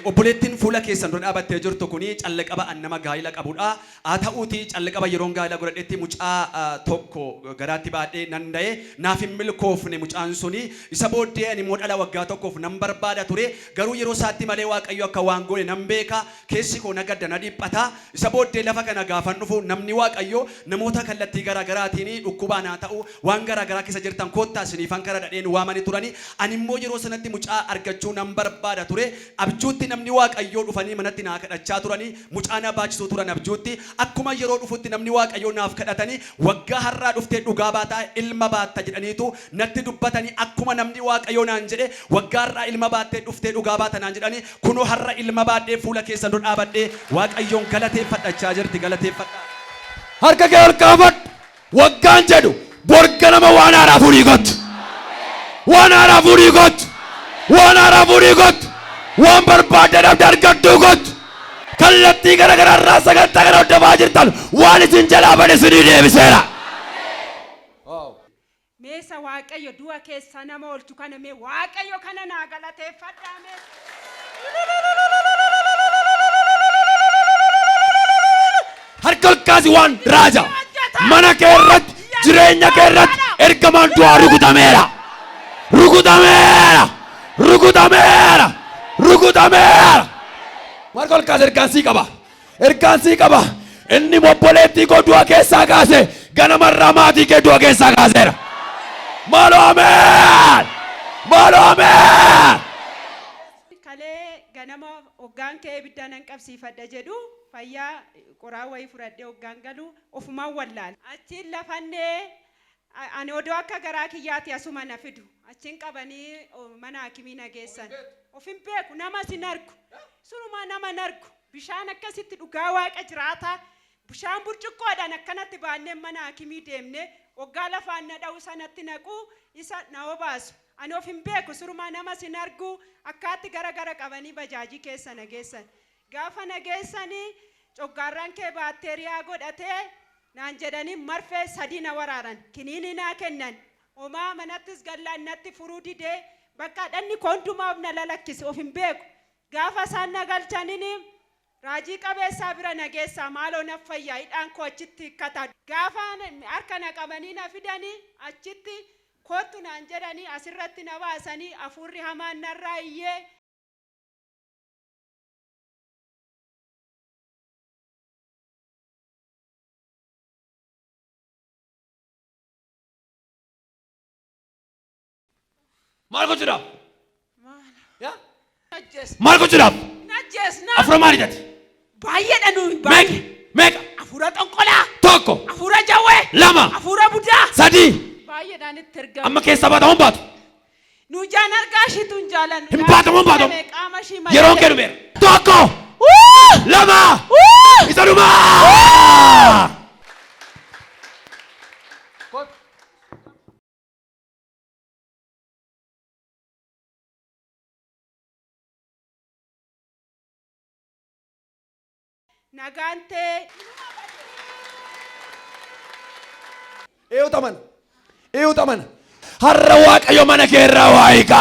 Obboleettiin fuula keessan dura dhaabattee jirtu kun callqaba an nama gaa'ila qabudha. Haa ta'uutii callqaba yeroon gaa'ila godhadhetti mucaa tokko garaatti baadhee nan da'e. Naaf hin milkoofne mucaan sun. Isa booddee animmoo dhala waggaa tokkoof nan barbaada ture. Garuu yeroo isaatti malee Waaqayyo akka waan goone nan beeka. Keessi koo na gadda, na dhiphata, isa booddee lafa kana gaafan dhufu namni Waaqayyoo namoota kallattii garaa garaatiin dhukkubaan haa ta'u waan garaa garaa keessa jirtan koottaa isiniifan kadhadha dheen waamani turani. Ani immoo yeroo sanatti mucaa argachuu nan barbaada ture. Abjuutti namni Waaqayyoo dhufanii manatti naa kadhachaa turani. Mucaa na baachisuu turan abjuutti. Akkuma yeroo dhufutti namni Waaqayyoo naaf kadhatani waggaa har'aa dhuftee dhugaa baata, ilma baatta jedhaniitu natti dubbatani. Akkuma namni Waaqayyoo naan jedhe waggaa har'aa ilma baattee dhuftee dhugaa baata naan jedhani. Kunoo har'a ilma baadhee fuula keessan dura dhaabadhee Waaqayyoon galateeffadha jechaa jirti galateeffadhaa. Harka kee ol kaafadhu. Waggaan jedhu bor ganama waan haaraa fuudhii kottu. Waan haaraa fuudhii kottu. Waan haaraa fuudhii kottu. Waan barbaadde dhabde argadhuu kottu. Kallattii gara garaa irraa sagantaa kana hordofaa jirtan waan isin jalaa bade isinii deebiseera. Mee isa waaqayyo du'a keessaa nama oolchu kana mee waaqayyo kana naa galateeffadhaa mee. Harka ol kaasi waan raaja. Mana kee irratti, jireenya kee irratti ergamaan du'aa rukutameera. Rukutameera. Rukutameera. Rukutameera. Harka ol kaasi ergaan sii qaba. Ergaan sii qaba. Inni obboleettii koo du'a keessaa kaase, ganamarraa maatii kee du'a keessaa kaaseera. Maaloo ameen! Maaloo ameen! Kalee ganama hoggaan ka'ee ibidda nan qabsiifadha jedhu fayyaa qoraa wayii fudhadhee hoggaan galu ofumaan wallaale. Achiin lafannee ani odoo akka garaa kiyyaati asuma na fidu. Achiin qabanii mana haakimii na geessan. Of hin beeku. Namas hin argu. Surumaa nama hin argu. Bishaan akkasitti dhugaa waaqa jiraataa bishaan burcuqqoodhaan akkanatti baannee mana haakimii deemnee oggaa lafaan na dha'u isa natti naqu isa na obaasu ani of hin beeku sirumaa namas hin argu akkaatti gara gara qabanii bajaajii keessa na geessan gaafa na geessanii coggaarraan kee baatteeriyaa godhatee naan jedhanii marfee sadii na waraaran kiniinii naa kennan homaa manattis gallaan natti furuu didee bakka dhanni koo hundumaa of na lalakkise of hin beeku Gaafa isaan na galchanini Raajii Qabeessaa bira na geessaa maaloo naf fayyaa hidhaan koo achitti hikkata. Gaafa harka na qabanii na fidani achitti koottu naan jedhani asirratti na baasani afuurri hamaan narraa iyyee. Maal gochuudhaaf? Yaa? Ajjees. Maal gochuudhaaf? Hin ajjeesna. Afura maali jate? Baay'eedha nuyi Meeqa? baay'ee. Meeqa? Afuura xonqolaa. Tokko, Afuura jawwee. lama, Afuura budaa. sadii. Baay'eedhaan itti ergamu. Amma keessaa baata hoon baatu. Nu jaan argaa ishiitu hin jaalan. Hin baatamu, hin baatamu. Qaama ishii malee. Yeroon kee dhumeera. Tokko, lama, isa dhumaa! Nagaan tee inuma bade. Eeyuut amana. Eeyuut amana. Har'a Waaqayyo mana kee irraa waa hiika.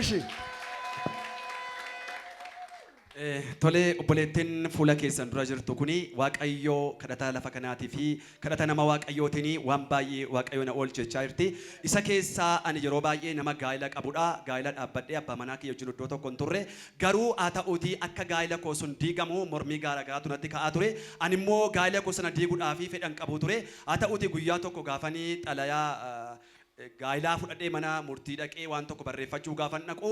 Ishi. Eh, Tolee obboleettiin fuula keessan dura jirtu kuni waaqayyoo kadhataa lafa kanaatii fi kadhata nama waaqayyootiin waan baay'ee waaqayyoo na oolchechaa jirti. Isa keessaa ani yeroo baay'ee nama gaa'ila qabudha. Gaa'ila dhaabbadhee abbaa manaa kiyya wajjin iddoo tokko hin turre. Garuu haa ta'uutii akka gaa'ila koo sun diigamu mormii gaara garaatu natti ka'aa ture. Ani immoo gaa'ila koo sana diiguudhaaf fedhan qabu ture. Haa ta'uutii guyyaa tokko gaafanii xalayaa ah, gaa'ilaa fudhadhee mana murtii dhaqee waan tokko barreeffachuu gaafan dhaqu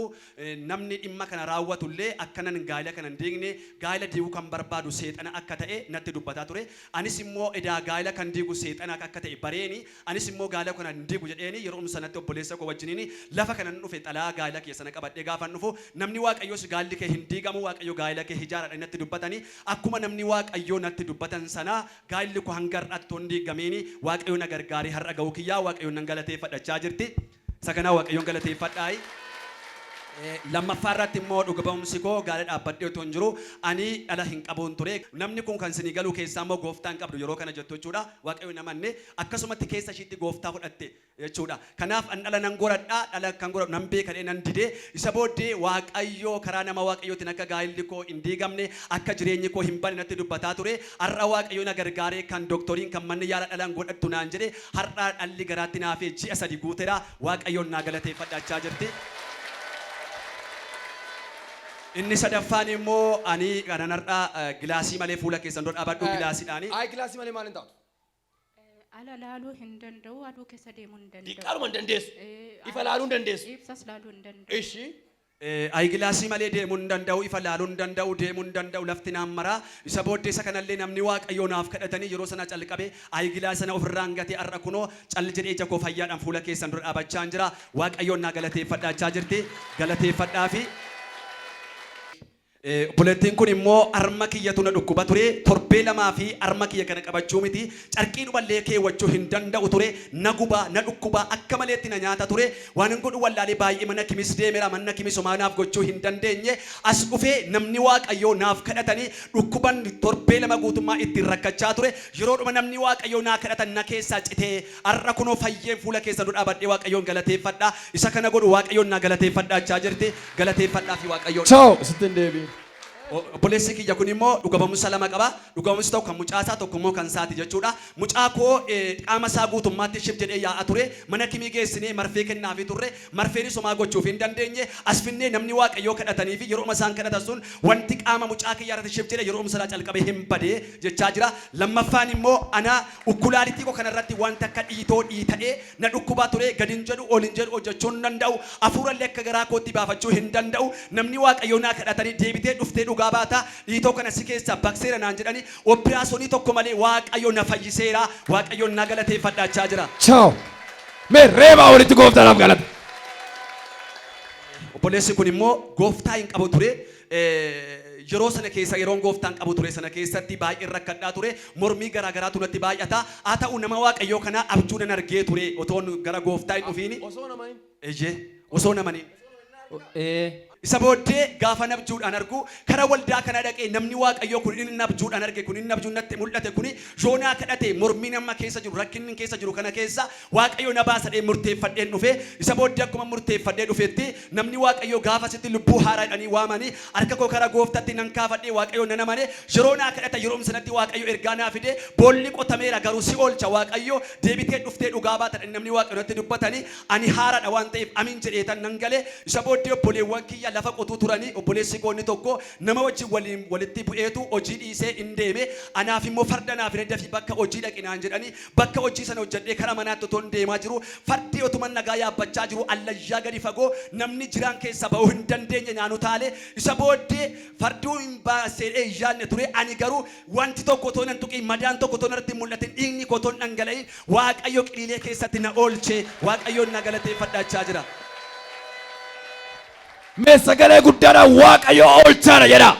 namni dhimma kana raawwatu illee akkanan gaa'ila kana hin diigne gaa'ila diiguu kan barbaadu seexana akka ta'e natti dubbataa ture. Anis immoo edaa gaa'ila kan diigu seexana akka ta'e bareeni anis immoo gaa'ila kana hin diigu jedheeni yeroom sanatti obboleessa koo wajjiniin lafa kanan dhufe xalayaa gaa'ila keessana qabadhee gaafan dhufu namni waaqayyoos gaa'illi kee hin diigamu waaqayyo gaa'ila kee hijaaraadhani natti dubbatani akkuma namni waaqayyoo natti dubbatan sana Gaa'illi koo hanga har'aatti utuu hin diigamiin Waaqayyo na gargaaree har'a ga'uu kiyyaa Waaqayyoon nan galateeffadha jechaa jirti. Isa kanaa Waaqayyoon galateeffadhaayi. Lammaffaa irratti immoo dhuga ba'umsi koo gaara dhaabbadhee utuu hin jiru ani dhala hin qabuun ture. Namni kun kan isinii galuu keessaa immoo gooftaa hin qabdu yeroo kana jettu jechuudha. Waaqayyoon hin amanne. Akkasumatti keessa ishiitti gooftaa fudhatte. jechuu dha. Kanaaf, An dhala nan goradha, dhala akkan goradhu nan beeka jedhee nan dide. Isa booddee Waaqayyo karaa nama Waaqayyootiin akka gaa'illi koo hin diigamne, akka jireenyi koo hin badne natti dubbataa ture. Har'a Waaqayyo na gargaaree kan doktoriin, kan manni yaalaa dhala hin godhattu naan jedhe, har'a dhalli garaatti na hafee ji'a sadi guutera. Waaqayyoon naa galateeffadha jechaa jirti. Inni sadaffaan immoo ani kanan har'a gilaasii malee fuula keessan dura dhaabadhu, gilaasiidhaani. Ayi gilaasii malee maal hin taatu? Ala laaluu hin danda'u, aduu keessa deemuu hin danda'u. Diqqaaluma hin dandeessu. Eh, Ifa laaluu hin dandeessu. Ibsas laaluu hin danda'u. Ishi. Eh, Ayigilaasii malee deemuu hin danda'u, ifa laaluu hin danda'u, deemuu hin danda'u, lafti naan mara. Isa booddee isa kanallee namni Waaqayyoo naaf kadhatanii yeroo sana calqabe ayigilaasi sana ofirraan gatee har'a kunoo cal jedhee ija koo fayyaadhaan fuula keessan dura dhaabachaan jira. Waaqayyoon naa galateeffadhaa jechaa jirti. Galateeffadhaafi. Obboleettiin kun immoo harma kiyyatu na dhukkuba ture, torbee lamaa fi harma kiyya kana qabachuu miti, carqiidhuma illee keewwachuu hin danda'u ture, na guba, na dhukkuba, akka maleetti na nyaata ture, waanan godhu wallaalee baay'ee mana kimis deemera, manna kimis homaa naaf gochuu hin dandeenye, as dhufee namni Waaqayyoo naaf kadhatanii dhukkuban torbee lama guutummaa ittiin rakkachaa ture, yeroodhuma namni Waaqayyoo naa kadhatan na keessaa citee Har'a kunoo fayyeen fuula keessan dura dhaabadhee Waaqayyoon galateeffadha. Isa kana godhu Waaqayyoon naa galateeffadhaa jechaa jirti. Galateeffadhaafi Waaqayyoon. Ciao! Sitti hin deebiin. Obboleessi kiyya kun immoo dhuga ba'umsa lama qaba. Dhuga ba'umsi tokko kan mucaa isaa, tokko immoo kan isaati jechuudha. Mucaa koo qaama isaa guutummaatti shib jedhee yaa'a ture. Mana kimii geessinee marfee kennaafii turre. Marfeenis homaa gochuufii hin dandeenye. As finnee namni Waaqayyoo kadhatanii fi yerooma isaan kadhatan sun wanti qaama mucaa kiyyaa irratti shib jedhe yeroomsanaa calqabee hin bade jechaa jira. Lammaffaan immoo ana. Ukulaalitii koo kana irratti wanti akka dhiitoo dhiita'ee na dhukkubaa ture, gad hin jedhu, ol hin jedhu, hojjechuu hin danda'u, hafuura illee akka garaa kootti baafachuu hin danda'u. Namni Waaqayyoo naa kadhatanii deebitee dhuftee dhugaa baata, dhiitoo kana si keessaa baqseera naan jedhanii oppiraasonii tokko malee Waaqayyo na fayyiseera, Waaqayyoon na galateeffadha jechaa jira. Ciao! Mee reebaa walitti Gooftaadhaaf galata! Obboleessi kun immoo Gooftaa hin qabu ture, Yeroo sana keessa, yeroon Gooftaan qabu ture sana keessatti baay'een rakkadhaa ture. Mormii garaa garaatu natti baay'ata. Haa ta'u nama Waaqayyoo kanaa abjuu nan argee ture otoon gara Gooftaa hin dhufiin. Abjuu osoo nama hin. Eeyyee, osoo nama hin. Osoo nama hin argin. Isa booddee gaafan abjuudhaan argu kara waldaa kanaa dhaqee namni Waaqayyoo kun inni abjuudhaan arge kun inni abjuun natti mul'ate kuni yoo naa kadhate mormiin amma keessa jiru rakkinnin keessa jiru kana keessa Waaqayyo na baasa jedhee murteeffadheen dhufe, isa booddee akkuman murteeffadhee dhufetti, namni Waaqayyoo gaafasitti lubbuu haaraa jedhanii waamani, harka koo kara Gooftatti nan kaafadhe, Waaqayyoon nan amane, yeroo naa kadhatan yeroom sanatti Waaqayyo ergaa naa fide, boolli qotameera garuu si oolcha Waaqayyo, deebitee dhuftee dhugaa baata jedhanii namni Waaqayyo natti dubbatani, ani haaraadha waan ta'eef Amiin jedheetan nan gale, isa booddee obboleewwan kiyya lafa qotuu turani, obboleessi koo inni tokko nama wajjin waliin walitti bu'eetu hojii dhiisee in deeme, anaaf immoo farda naa fidee dafii bakka hojii dhaqi naan jedhani, Bakka hojii sana hojjadhee kara manaatti otoon deemaa jiruu fardii otuman nagaa yaabbachaa jiruu allayyaa gadi fagoo namni jiraan keessaa ba'uu hin dandeenye naan utaale. Isa booddee farduu hin baas jedhee hin yaadne ture. Ani garuu wanti tokko otoo nan tuqiin, madaan tokko otoo narratti hin mul'atin, dhiigni koo otoo hin dhangala'iin Waaqayyo qiliilee keessatti na oolche. Waaqayyoon na galateeffadha jechaa jira. Mee sagalee guddaadhaan Waaqayyo oolchaadha jedhaa.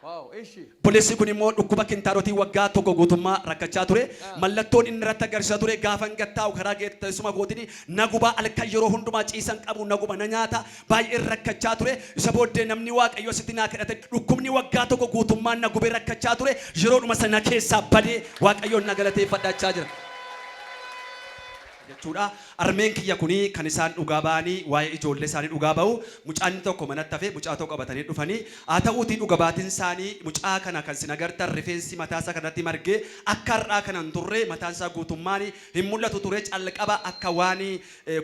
Wow, ishi. Obboleessi kun immoo dhukkuba kintaarotiin waggaa tokko guutummaa rakkachaa ture. Mallattoon inni irratti agarsiisa ture gaafan gad taa'u karaa teessuma kootiin na guba, halkan yeroo hundumaa ciisan qabu na guba, na nyaata, baay'een rakkachaa ture. Isa booddee namni Waaqayyoo asitti naa kadhate. Dhukkubni waggaa tokko guutummaa na gube rakkachaa ture yeroodhuma sana keessaa bade. Waaqayyoon na galateeffadha jechaa jira. jechuudha. Armeen kiyya kuni kan isaan dhugaa ba'anii waa'ee ijoollee isaanii dhugaa ba'u. Mucaan inni tokko manatti hafe, mucaa tokko qabatanii dhufanii. Haa ta'uutii dhuga baatiin isaanii mucaa kana kan isin agartan rifeensi mataa isaa kan irratti marge akka har'aa kana hin turre mataan isaa guutummaan hin mul'atu ture calqaba akka waan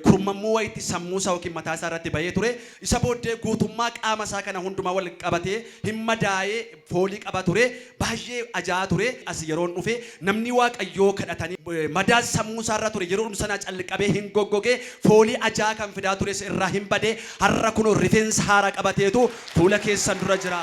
kurmammuu wayiitti sammuu isaa ykn mataa isaa irratti ba'ee ture. Isa booddee guutummaa qaama isaa kana hundumaa wal qabatee hin madaa'e. foolii qaba ture baay'ee ajaa'a ture as yeroon dhufe namnii waaqayyoo kadhatanii madaan sammuu isaa irra ture yeroodhum sanaa calqabee hin goggoge foolii ajaa'a kan fidaa tures irraa hin bade har'a kunoo rifeensa haaraa qabateetu fuula keessan dura jira.